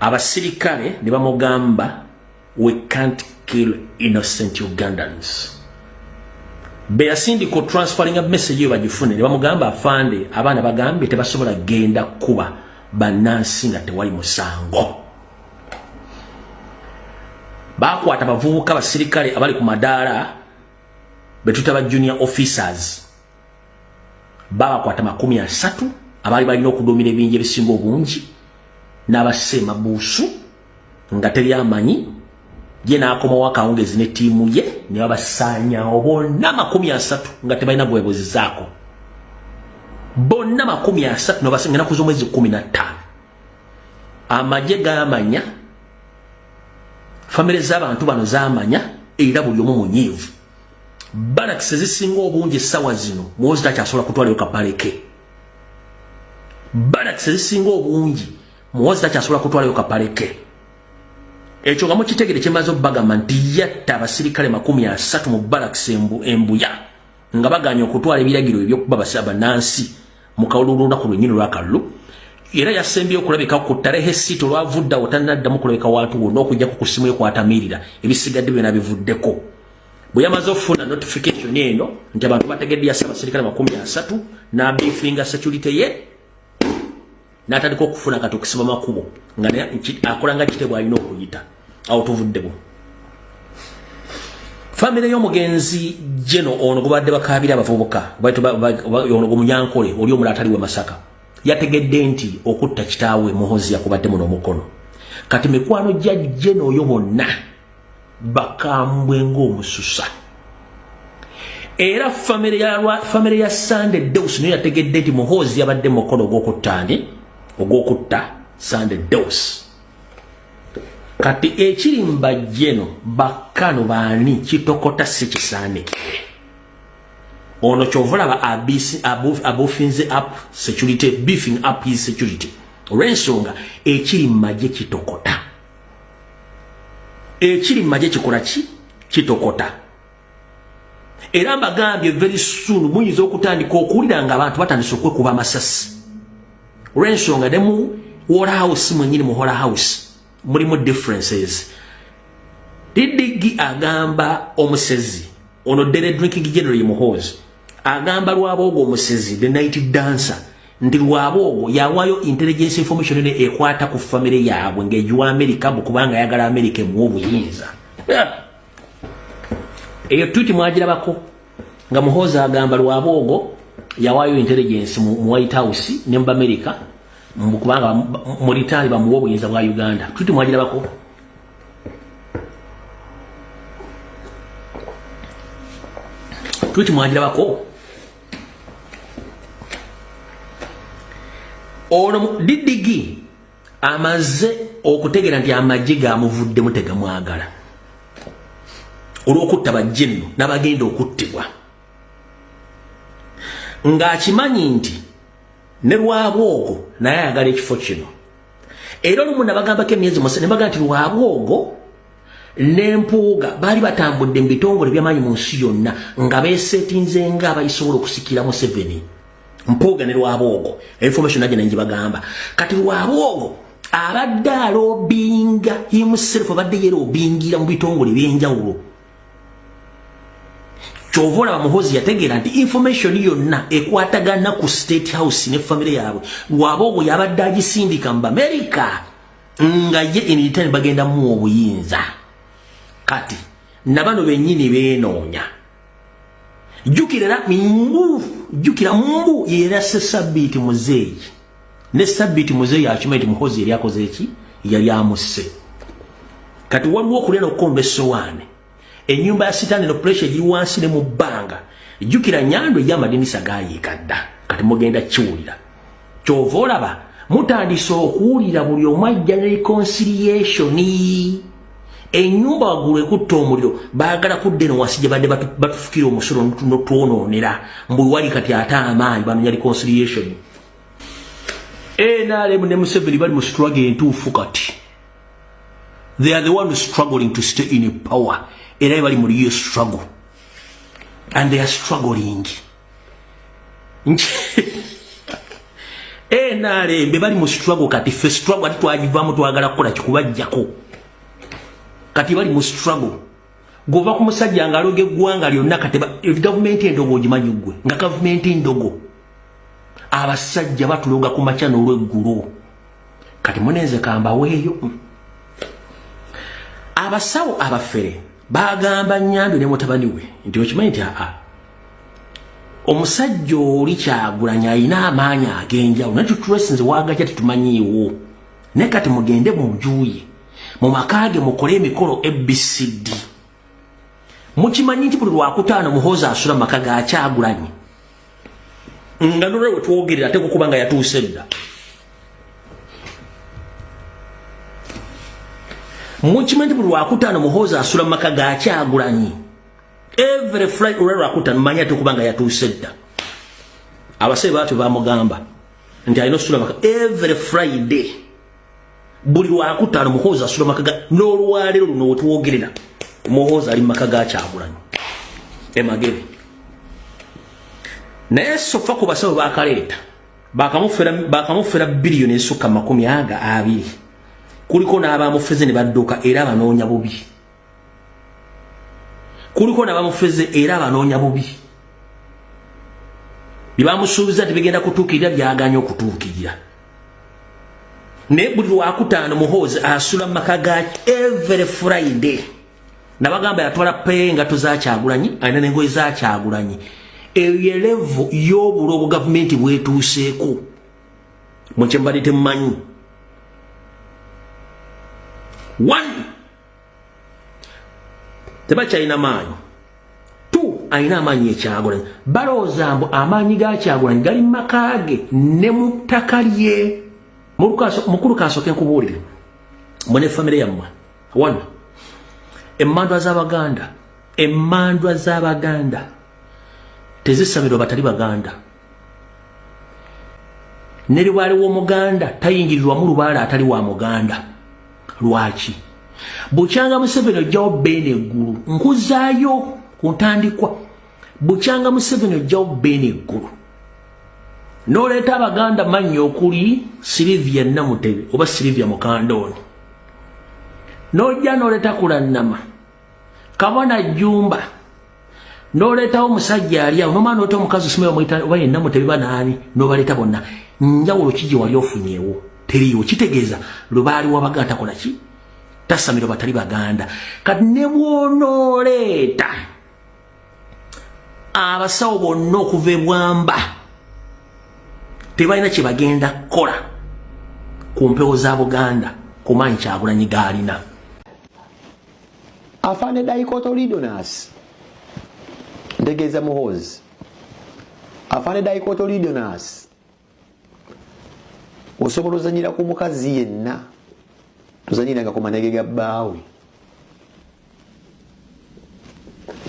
abasirikale ne bamugamba we can't kill innocent ugandans beyasindika otransferinga message eyo bagifune ne bamugamba afande abaana bagambye tebasobola genda kuba bannansi nga tewali musango bakwata abavubuka abasirikale abali ku madaala betuta ba junior officers babakwata makumi asatu abaali balina okuduumira ebinja ebisinga obungi n'abassa emabuusu nga teri amanyi ye n'akomawo akawungezi ne ttiimu ye ne babasaanyawo bonna makumi asatu nga tebalina gwebuzizaako bonna makumi asatu nabasanga enaku z'omwezi kumi na ttaano amagye gamanya famire z'abantu bano zamanya era buli omu munyiivu balakisi zisinga obungi essawa zino muwozi takyasobola kutwalayo kapaleke balakisi zisinga obungi muwozi takyasobola kutwalayo kapaleke ekyo nga mukitegere kyemaze okubagamba nti yatta abasirikale makumi asatu mu balakisi embuya nga baganye okutwala ebiragiro ebyokuba basi abanansi mu kalulu olunaku lwennyini lwakalulu era yasembye okulabika ku tarehe sita olwavuddawo tanaddamu kulabika wantu wonna okujjako ku ssimu ekwatamiirira ebisigadde byona bivuddeko bwe yamaze okufuna notification eno nti abantu bategedde yasa abaserikale makumi asatu n'abifinga security ye natandika okufuna kati okusiba makubo nga akola nga kitebwa alina okuyita awo tuvuddemu famire y'omugenzi jeno ono gubadde bakabira abavubuka ono gwemunyankole oli omula atali we masaka yategedde nti okutta kitaawe muhozi yakubadde muno omukono kati mikwano gya jeno oyo bonna bakambwe ng'omususa era famire ya sande deus niyo yategedde nti muhoozi yabadde mukono ogw'okuttani ogw'okutta sande deus kati ekiri mbajjeno bakkano baani kitokota si kisaandikiire ono kyovolaba abufinze up security beefing up his security olwensonga ekiri mumagye kitokota ekiri mu magye kikola ki kitokota era mbagambye very soon muyinza okutandika okuwulira nga abantu batandise okwekuba amasasi olwensonga ne mu wall house mwenyini mu whole house mulimu differences didigi agamba omusezi ono dere drinking general muhoozi agamba lwaba ogwo omusezi the night dancer nti lwaba ogwo yawaayo intelligence information ene ekwata ku famire yaabwe ng'egiwa amerika mbu kubanga ayagala amerika emuwa obuyinza eyo twiti mwagirabako nga muhoozi agamba lwaba ogwo yawaayo intelligence mu white house ne mu amerika mbu kubanga mu litaali bamuwa obuyinza bwa uganda twiti mwagirabako twiti mwagirabako ono didigi amaze okutegera nti amagye gamuvuddemu tegamwagala olw'okutta bajje nno n'abagenda okuttibwa ng'akimanyi nti ne lwabwogo naye ayagala ekifo kino era olumu nabagambako emyezi musa ne bagaa nti lwabwogo ne mpuuga baali batambudde mu bitongole byamaanyi mu nsi yonna nga besetinze nga abayisobola okusikira museveni mpuuga ne lwaboogo information agenda ngi bagamba kati lwaboogo abadde alobinga himself abadde yera obingira mu bitongole byenjawulo kyova olaba muhozi yategeera nti information yonna ekwatagana ku state house ne famire yaabwe lwaboogo yabadde agisindika mu bamerika nga ye enitani bagenda muwa obuyinza kati nabano benyini benoonya jukira era mbu jukira mbu yera se sabiti muzeeyi ne sabiti muzeeyi akimanyi ti muhozi yali akoze eki yali amusse kati waliwo okulya nokukomba essowaani enyumba ya sitani no pressure eri wansi ne mubanga jukira nyando ya madinisa gayi kadda kati mugenda kiwulira kyovola ba mutandise okuwulira buli omajja ne reconciliation enyumba wagulu ekutta omuliro bagala kudde no wansi gye badde batufukira omusolo notwononera mbu wali kati ate amaanyi banonya reconciliation nrm ne museveni bali mu struggle entuufu kati they are the one struggling to stay in power era ebali muli yo struggle and they are struggling eh, nrm bebali mu struggle kati fe struggle ati twagivamu twagala kukola kikubajjako kati bali mu struggle gova ku musajja nga aloge gwanga lyonna kati government endogo ogimanyi gwe nga government endogo abasajja batuloga ku makya n'olweggulo kati munenze kambaweeyo abasawo abafere bagamba nyambi ne mutabani we nti okimanyi nti aa omusajja oli kyagulanya alina amaanyi ag'enjawulo naye tutulesinze wagakya tetumanyiiwo naye kati mugende mu njuye mu maka ge mukole emikolo abcd mukimanyi nti buli lwakutaano muhoozi asula mu maka gakyagulanye nga nolwe wetwogerera ate kukuba nga yatuuse dda mukimanyi nti buli lwakutaano muhoozi asula mu maka gakyagulanyi every fly olwe lwakutaano manyi ate kuba nga yatuuse dda abasebe batyo bamugamba nti alina osula maka every friday buli lwakutaano muhoozi asula maka ga n'olwaleero luno wetwogerera muhoozi ali maka ga kyagulanyi emagere naye sofa ku basawo bakaleeta bakamufera biliyoni esukka makumi aga abiri kuliko n'abamufeze ne badduka era banoonya bubi kuliko nabamufeze era abanoonya bubi byebamusuubiza nti bigenda kutuukirira byaganya okutuukirira naye buli lwakutaano muhoozi asula mu maka gaki every friday nabagamba yatwala peye engato zakyagulanyi alina nengoye zakyagulanyi eyo yelevu yobulo obugavumenti bwetuuseeko mwekyembadde temumanyi one tebakyalina maanyi tu alina amaanyi ekyagulanyi balowooza mbu amaanyi ga kyagulanyi gali mu maka ge ne mu ttaka lye mukulu kansooke nkubuulire mwe ne famire yammwe wano emmandwa z'abaganda emmandwa z'abaganda tezisamirwa batali baganda ne libaale w'omuganda tayingirirwamu lubaale atali wa muganda lwaki bukyanga museveni ojjawo beene eggulu nkuzaayo ku ntandikwa bukyanga museveni ojjawo beene eggulu noleeta abaganda mannya okuli silivia namutebe oba silivia mukandooni nojja noleeta kulannama kabona jumba noletawo musajja alya nomwana oleta omukazi osima omuyita oba yenna mutebiba naani nobaleta bonna njawulo kiji wali ofunyewo teriyo kitegeeza lubaali wabaga takola ki tasamiro batali baganda kati ne bwonooleeta abasawo bonna okuva ebwamba tebalina kye bagenda kukola ku mpewo za buganda kumaanyi kyagulanyi gaalina afande daikotoridonas ntegeeza muhoozi afande daikotoridonas osobola ozanyira ku mukazi yenna tozanyiranga ku manege ga bbaawe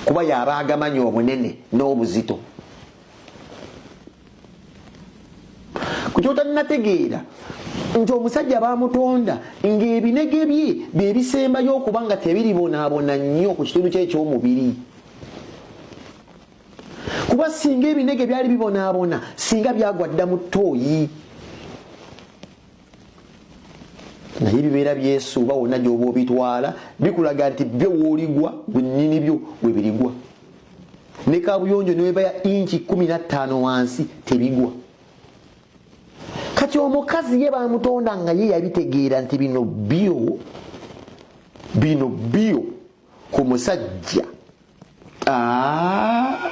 kuba yaba agamanyi obunene n'obuzito kukyotaninategeera nti omusajja bamutonda ng'ebinege bye bye bisembayo okuba nga tebiribonaabona nnyo ku kitundu kye eky'omubiri kuba singa ebinege byali bibonaabona singa byagwa dda mu ttooyi naye bibeera byesuuba wonna gyoba obitwala bikulaga nti byo woligwa bwenyini byo webirigwa ne kabuyonjo newebaya inki kumi nattaano wansi tebigwa kati omukazi ye bamutonda nga ye yabitegeera nti bino bio bino bio ku musajja ah.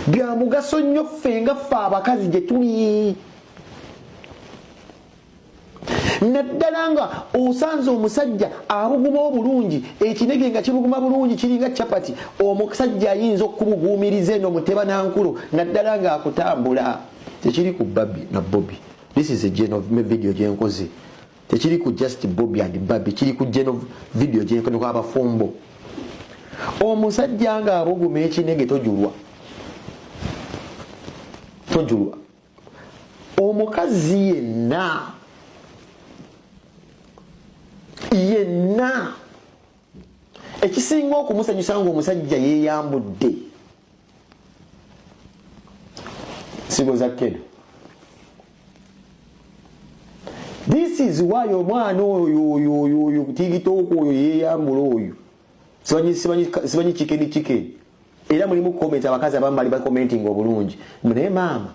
bya mugaso nnyo ffe nga ffe abakazi gye tuli naddala nga osanze omusajja abuguma obulungi ekinege nga kibuguma bulungi kiringa capati omusajja ayinza okubuguumiriza eno muteba nankulo naddala nga akutambula tekiri ku babi na bobi this is a video gyenkoze tekiri ku just bobi and babi kiri ku geno video gyekoneku abafumbo omusajja nga abuguma ekinege tojulwa tojulwa omukazi yenna yenna ekisinga okumusanyusa nga omusajja yeyambudde sigo za kedo this is why omwana oyo oyo oyo oyo tigitooko oyo yeyambula oyo sibanyi kikedi kikedi era mulimu comment abakazi abambali bakomentinga obulungi naye maama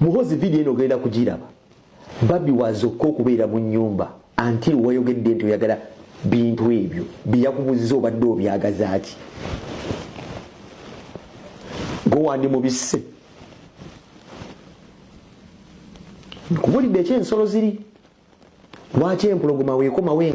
Muhozi video eno ogenda kugiraba. Babi wazo ko kubeera mu nyumba until wayogedde nti oyagala bintu ebyo biyakubuzza obadde obyagazaaki gowandi mubisse nkubulidde ekyensolo ziri lwaki empulogoma wekomawe